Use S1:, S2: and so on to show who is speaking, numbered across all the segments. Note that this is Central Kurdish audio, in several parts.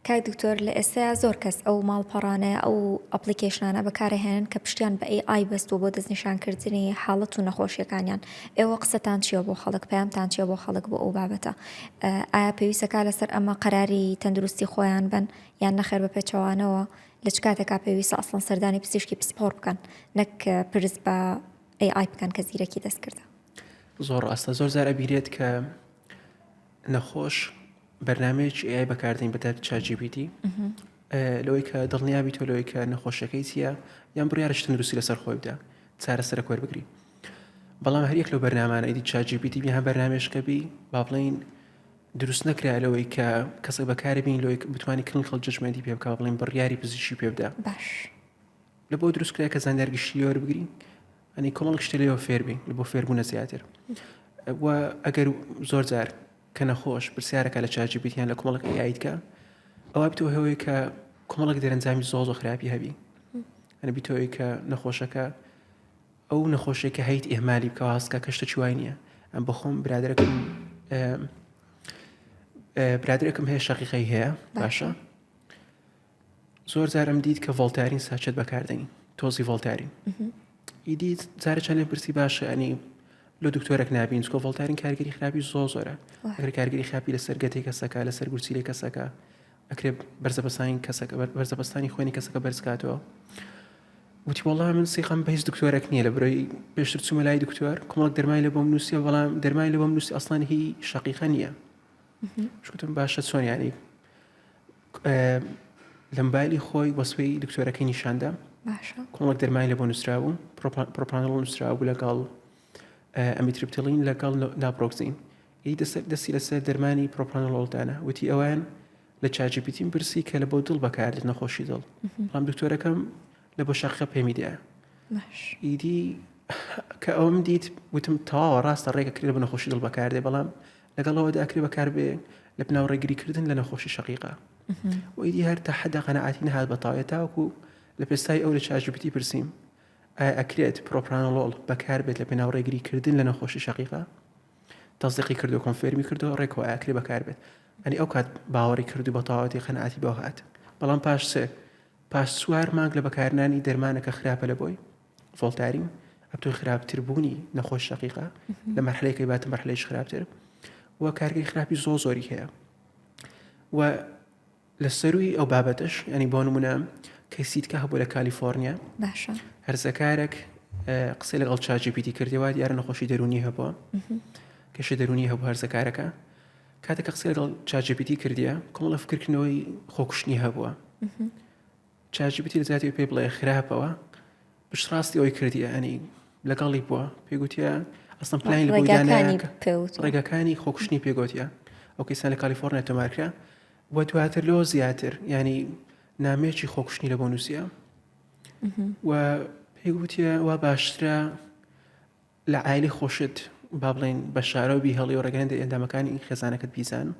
S1: کاک دکتۆر لە ئێستەیا زۆر کەس ئەو ماڵپەڕانە ئەو ئەپڵیکەیشنانە بەکارئەهێنن کە پشتیان بە ئەی ئای بەستوە بۆ دەست نیشان کردنی حاڵەت و نەخۆشیەکانیان ئێوە قسەتان چیە بۆ خەڵک پەیامتان چیە بۆ خەڵک بۆ ئەو بابەتە ئایا پێویستە کار لەسەر ئەمە قەراری تەندروستی خۆیان بەن یان نەخێر بە پێچەوانەوە لە چ کاتێکا پێویستە ئەسڵەن سەردانی پزیشکی پسپۆڕ بکەن نەک پرس بە ئەی ئای بکەن کە زیرەکی دەست کردە زۆر ڕاستە
S2: زۆر زار ئەبیرێت کە نەخۆش بەرنامەیەکی AI بەکاردێنی بە تایبەتی ChatGPT لەوەی کە دڵنیا بیتەوە لەوەی کە نەخۆشیەکەی چییە یان بڕیارش تەندروستی لەسەر خۆی بدا چارەسەرە کۆر بگری بەڵام هەریەک لەو بەرنامانە ئیدی چاجیبیتی بیان بەرنمێشکە بی با بڵین دروست نەکرا لەوەی کە کەسە بەکاری بین لەوەی بتوانانی کلین خەڵ جژمێنی پێ بکە بڵین بڕیاری پزیشی پێ بدا
S1: باش لە بۆ
S2: دروستکرای کە زانیارگشتی لێوەر بگرین ئەنی کۆمەڵک شتێ لێوە فێربین بۆ فێربوونە زیاتر و ئەگەر زۆر جار کە نەخۆش پرسیارەکە لە چاجی بیتیان لە کۆمەڵک یایتکە ئەوە بتەوە هەوەیە کە کۆمەڵک دەرەنجامی زۆڵ و خراپی هەبی ئەە بیتەوەی کە نەخۆشەکە ئەو نەخۆشێکە هەیت ئێمالی بکە هەستکە کەشتە چوای نییە ئەم بەخۆم برادەکەم برادێکم هەیە شەقیقەی هەیە باشە زۆر جارم دیت کە ڤۆڵتارین ساچێت بەکاردێنین تۆزی ڤۆڵتارین ئیدی جارە چەندێ پرسی باشە ئەنی لە دکتۆرەک نبین چکۆ ڤۆڵتارین کارگەری خراپی زۆ زۆرە ئەگەر کارگەری خراپی لەسەر گەتی کەسەکە لەسەر گورچیلی کەسەکە ئەکرێ بەرزەبەسانی کەسەکە بەرزەبەستانی خوێنی کەسەکە بەرزکاتەوە وتی وڵام من سیخەم بە هیچ دکتۆرەک نییە لە برۆی پێشتر چوومە لای دکتۆر کۆمەڵک دەرمای لە بۆم نووسە بەڵام دەرمای لە بۆم نووسی ئەسلان هی شقیقە نییە شتم باشە چۆنیانی لە مبایلی خۆی وەسوەی دکتۆرەکەی نیشاندا کۆڵک دەرمای لە بۆ نووسرابوو پرۆپانڵ نووسرابوو لەگەڵ ئەمیترپتلین لەگەڵ ناپۆکسین ی دەسەر دەستی لەسەر دەرمانی پرۆپانڵۆلدانە وتی ئەوان لە چاجیپیتیم پرسی کە لە بۆ دڵ بەکارد نەخۆشی دڵ بەڵام دکتۆرەکەم لە بۆ شەقە پێمی دێ ئیدی کە ئەوم دیت وتم تەواوە ڕاستە ڕێگە کرێ بە نەخۆشی دڵ بەکاردێ بەڵام لەگەڵ ئەوەدا ئەکرێ بەکاربێ لە پناو ڕێگریکردن لە نەخۆشی شقیقە و ئیدی هەر تا حەدە قەنەعاتی نەهات بە تاوێ تاوەکو لە پێستای ئەو لە چاژبتی پرسیم ئایا ئەکرێت پرۆپرانۆڵۆڵ بەکاربێت لە پێناو ڕێگریکردن لە نەخۆشی شقیقە تەزدیقی کردو کۆنفێرمی کردو ڕێکەوە ئاکرێ بەکاربێت ئەنی ئەو کات باوەڕی کردو بە تەواوەتی قەنەعاتی بەوە هات بەڵام پاش سێ پاش سوار مانگ لە بەکارنانی دەرمانەکە خراپە لە بۆی فڵتارین ئەتۆی خراپتر بوونی نەخۆش شقیقا لە مەحلەکەی باتە مەحلەیش خراپتر و کارگەی خراپی زۆ زۆری هەیە و لە سەروی ئەو بابەتش ئەنی بۆ نمونە کەسیتکە هەبوو لە کالیفۆرنیا باشە
S1: هەرزەکارێک
S2: قسە لەگەڵ چاجی پیتی کردەوە دیارە نەخۆشی دەرونی هەبووە کەشە دەرونی هەبوو هەرزەکارەکە کاتێکە قسە لەگەڵ چاجپیتی کردیە کۆمەڵە فکردنەوەی خۆکوشتنی هەبووە چات جی پی تی لەجیاتی ئەوەی پێی بڵێ خراپەوە پشتڕاستی ئەوەی کردیە ئەنی لەگەڵی بووە پێی گوتیە ئەسم پلانی لەبووی دانایە ڕێگەکانی خۆکشتنی پێگوتیە ئەو کەسان لە کالیفۆرنیا تۆمارکرا و دواتر لۆ زیاتر ینی نامێکی خۆکشتنی لە بۆ نووسە و پێی گوتیە وا باشترە لە عایلەی خۆشت با بڵێین بە شارەوە بیهێڵی و ڕێگەیان دەری ئەندامەکانی ئی خێزانەکەت بیزان و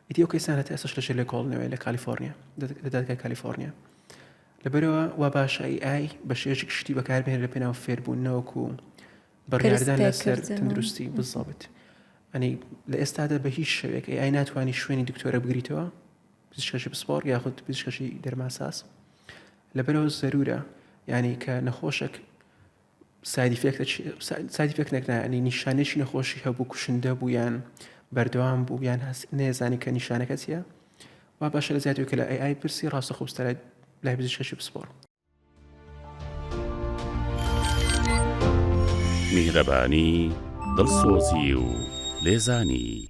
S2: ئیدی ئەو کەیسانە تا ئێستاش لەژێر لێکۆڵینەوەیە لە کالیفۆرنیا لە دادگای کالیفۆرنیا لەبەرەوە وا باشە ئی ئای بە شێوەیەکی گشتی بەکاربهێنێت لە پێناو فێربوون نەوەکو و بڕیاردان لەسەر پێکردن و- تەندروستی بزەبت ئەنی لە ئێستادا بە هیچ شێوەیەک ئی ئای ناتوانانی شوێنی دکتۆرە بگریتەوە پزیشکەشی پسپۆڕ یاخود پزیشکەشی دەرماساس لەبەرەوە زەرورە یانی کە نەخۆشێک ساید ئیفێکتە چیە؟ ساید ئیفێکت نەکرا یعنی نیشانەیەکی نەخۆشی هەبوو کوشندە بوو یان بەردەوام بوو یان هەست نێزانی کە نیشانەکە چیە وا باشە لە زیاتر کە لە ئەی ئای پرسی ڕاستە خۆستەرای لای پزیشکێکی پسپۆڕ
S3: میهرەبانی دڵسۆزی و لێزانی